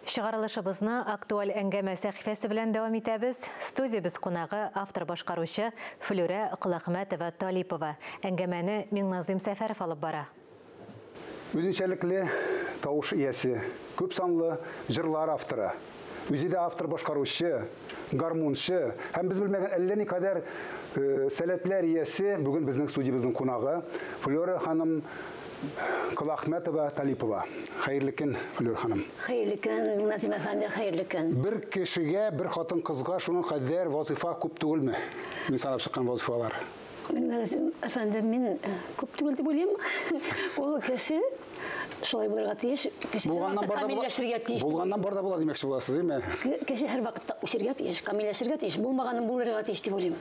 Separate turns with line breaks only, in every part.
Чыгарылышыбызны актуаль әңгәмә сәхифәсе белән дәвам итәбез. Студиябез кунагы автор башкаручы Флүрә Колахмәтова Талипова. Әңгәмәне Миңназыйм Сәфәров алып бара.
Үзенчәлекле тавыш иясе, күп санлы җырлар авторы, үзе дә автор башкаручы, гармунчы һәм без белмәгән әллә никадәр сәләтләр иясе бүген безнең студиябезнең кунагы Флера ханым Калахметова Талипова. Хәерле көн, Флер ханым. Хәерле көн, Назим
әфәнде, хәерле көн. Бер кешегә,
бер хатын-кызга шуның кадәр вазифа күп түгелме? Мин санап чыккан вазифалар. Мәгәзем
әфәнде, мин күп түгел дип уйлыйм. Ул кеше шулай булырга тиеш. Кеше булганнан барда камилләшергә тиеш. Булганнан барда була димәкче
буласыз, имә. Кеше һәр вакытта
үсергә тиеш, камилләшергә тиеш, булмаганын булырга тиеш дип уйлыйм.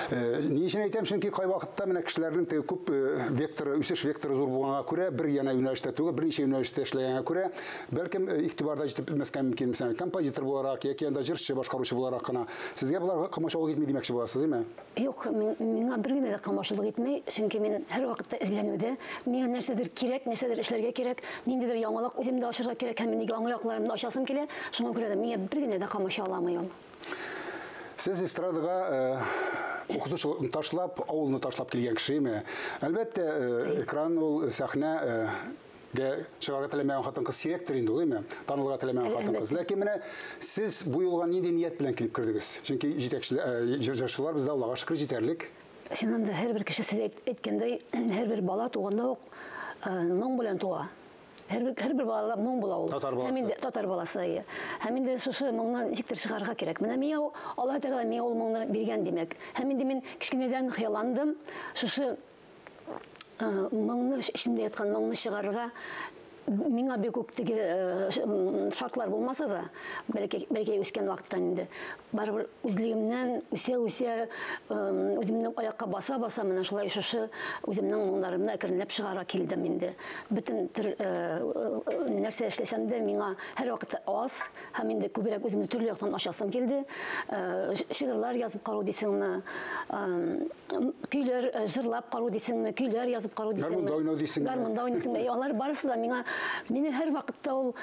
Э, ни
өчен әйтәм, чөнки кай вакытта менә кешеләрнең теге күп э, векторы, үсеш векторы зур булганга күрә, бер яна юнәлештә түгел, берничә юнәлештә эшләгәнгә күрә, бәлкем э, игътибарда җитеп бетмәскә мөмкин, мисәлән, композитор буларак яки анда җырчы, башкаручы буларак кына. Сезгә болар комачаулык итми димәкче буласыз, имә? Юк,
миңа бер генә дә камашулык итмәй, чөнки мин һәрвакытта эзләнүдә, миңа нәрсәдер кирәк, нәрсәдер эшләргә кирәк, ниндидер яңалык үзем дә ачарга кирәк һәм минеге аңлы якларымны ачасым килә, шуңа күрә дә миңа бер генә дә камаша аламый ул. Сез
эстрадага укытучылыкны ташлап, авылны ташлап килгән кешеме? Әлбәттә, экран ул, сәхнә дә чыгарга теләмәгән хатын-кыз сирәктер инде ул, әйме? Танылырга теләмәгән хатын-кыз. Ләкин менә сез бу юлга нинди ният белән килеп кердегез? Чөнки җитәкчеләр, э, җырчылар бездә Аллага шөкер җитәрлек. Чыннан да һәрбер
кеше сез әйткәндәй, һәрбер бала туганда ук э, моң белән туа. Һәрбер һәрбер балада моң була ул. Татар баласы. Һәм инде татар баласы әйе. Һәм инде шушы моңны ничектер чыгарга кирәк. Менә миңа Аллаһ Тәгалә миңа ул моңны биргән димәк. Һәм инде мин кечкенәдән хыялландым. Шушы Э, моңны эчендә яткан моңны чыгарырга миңа бик үк теге э, шартлар булмаса да бәлки бәлки үскән вакыттан инде барыбер үзлегемнән үсә үсә э, үземнең аякка баса баса менә шулай шушы үземнең моңнарымны әкренләп чыгара килдем инде бөтен нәрсә эшләсәм дә миңа һәрвакыт аз һәм инде күбрәк үземне төрле яктан ачасым килде. Э, шигырьләр язып карау дисеңме? Көйләр э, җырлап карау дисеңме? Көйләр язып карау дисеңме? Гармунда уйнау дисеңме? Гармунда уйнасыңмы? Алар барысы да миңа мине һәр вакытта ул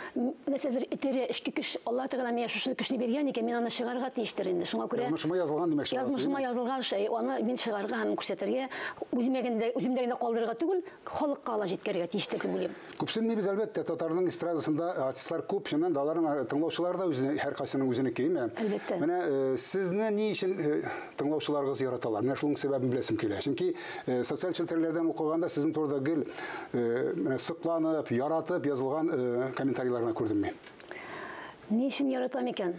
нәрсәдер итерә, эчке көч. Алла Тәгалә миңа шушы көчне биргән икән, мин аны чыгарга тиештер инде. Шуңа күрә Язмышыма язылган димәк шулай.
Язмышыма язылган шәй,
аны мин чыгарга һәм күрсәтергә, үземә генә үземдә генә калдырырга түгел, халыкка ала җиткерергә тиештер дип уйлыйм. Күпсенмибез әлбәттә,
татарның эстрадасында артистлар күп, чыннан да аларның э, тыңлаучылары да үзенең һәркайсының үзенеке, әйме? Әлбәттә. Менә э,
сезне
ни өчен э, тыңлаучыларыгыз яраталар? Менә шуның сәбәбен беләсем килә. Чөнки социаль челтәрләрдән укыганда сезнең турыда гел менә сокланып, яратып язылган комментарийларны күрдем мин. Ни
өчен яратам икән?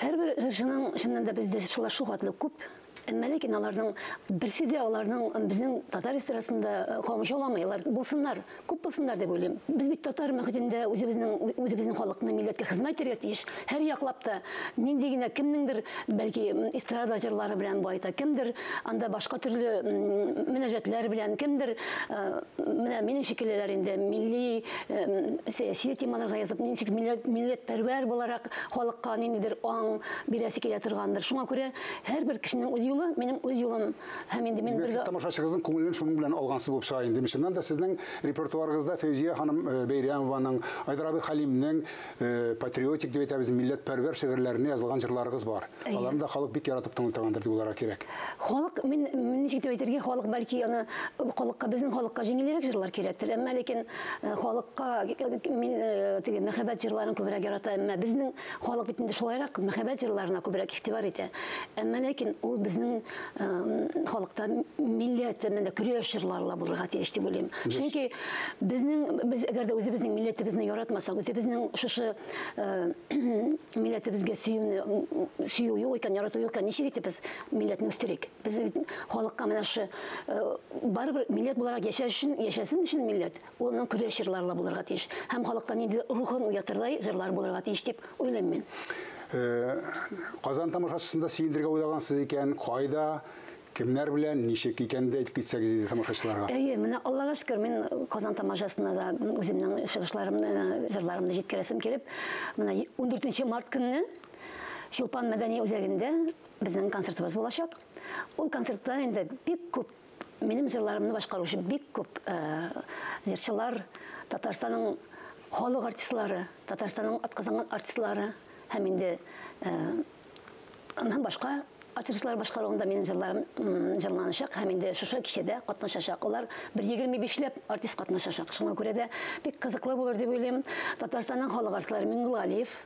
Һәрбер җырчының чыннан да бездә шулай шугатлы күп Әмма ләкин аларның берсе дә аларның безнең татар эстрадасында э, камыш аламыйлар. Булсыннар, күп булсыннар дип уйлыйм. Без бит татар мөхитендә үзебезнең үзебезнең халыкны милләткә хезмәт итәргә тиеш. Һәр яклап та нинди генә кемнеңдер бәлки эстрада җырлары белән байта, кемдер анда башка төрле мөнәҗәтләр белән, кемдер э, менә минем шикеллеләр инде милли э, сәяси темаларга язып, ничек милләт милләтпәрвәр буларак халыкка ниндидер аң бирәсе килә торгандыр. Шуңа күрә Һәрбер кешенең үз юлы, минем үз юлым. Һәм инде мин бергә... Сез тамашачыгызның күңелен шуның
белән алгансыз булып чыга инде. Чыннан да сезнең репертуарыгызда Фәүзия ханым э, Бәйрәмованың, Айдар абый Халимнең э, патриотик дип әйтәбез, милләтпәрвәр шигырьләренә язылган җырларыгыз бар. Аларны да халык бик яратып тыңлый торгандыр дип уйларга кирәк. Халык, мин
ничек дип әйтергә, халык бәлки аны халыкка, безнең халыкка җиңелрәк җырлар кирәктер. Әмма ләкин э, халыкка мин теге мәхәббәт җырларын күбрәк ярата, әмма безнең Халык бит инде шулайрак мәхәббәт җырларына күбрәк игътибар итә. Әмма ләкин ул безнең э, халыкта милләт төбендә көрәш җырлары ла булырга тиеш дип уйлыйм. Чөнки безнең без әгәр дә үзебезнең милләтебезне яратмасак, үзебезнең шушы э, милләтебезгә сөюне сөю юк икән, ярату юк икән, ничек итеп без милләтне үстерик? Без халыкка менә шушы э, барыбер милләт буларак яшәшен, яшәсен өчен милләт Ул аның көрәш җырлары ла булырга тиеш һәм халыкта нинди рухын уятырдай җырлар булырга тиеш дип уйлыйм мин. Э,
Казан тамашачысында сөендергә уйлагансыз икән, кайда, кемнәр белән, ничек икәнен дә әйтеп китсәгез иде тамашачыларга. Әйе, менә Аллага шөкер,
мин Казан тамашасына да үземнең чыгышларымны, җырларымны җиткерәсем килеп, менә 14 март көнне Чулпан мәдәни үзәгендә безнең концертыбыз булачак. Ул концертта инде бик күп Минем җырларымны башкаручы бик күп э, җырчылар, Татарстанның халык артистлары, Татарстанның атказанган артистлары һәм инде э, һәм башка артистлар башкаруында минем җырларым җырланачак һәм инде шушы кичәдә катнашачак. Алар бер егерме бишләп артист катнашачак. Шуңа күрә дә бик кызыклы булыр дип уйлыйм. Татарстанның халык артистлары Миңгулалиев,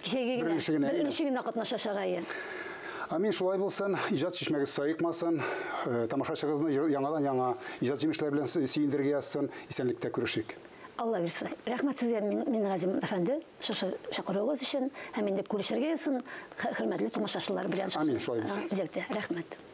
Кичәге генә. Беренче генә. Беренче генә катнаша чарайы. Амин
шулай булсын, иҗат чишмәгез саекмасын, э, тамашачыгызны яңадан-яңа иҗат җимешләре белән сөендерергә язсын, исәнлектә күрешик. Алла бирсә.
Рәхмәт сезгә, Мингазим әфәнде, шушы чакыруыгыз өчен һәм инде күрешергә язсын, хөрмәтле тамашачылар
белән.
Амин, шулай булсын. Рәхмәт.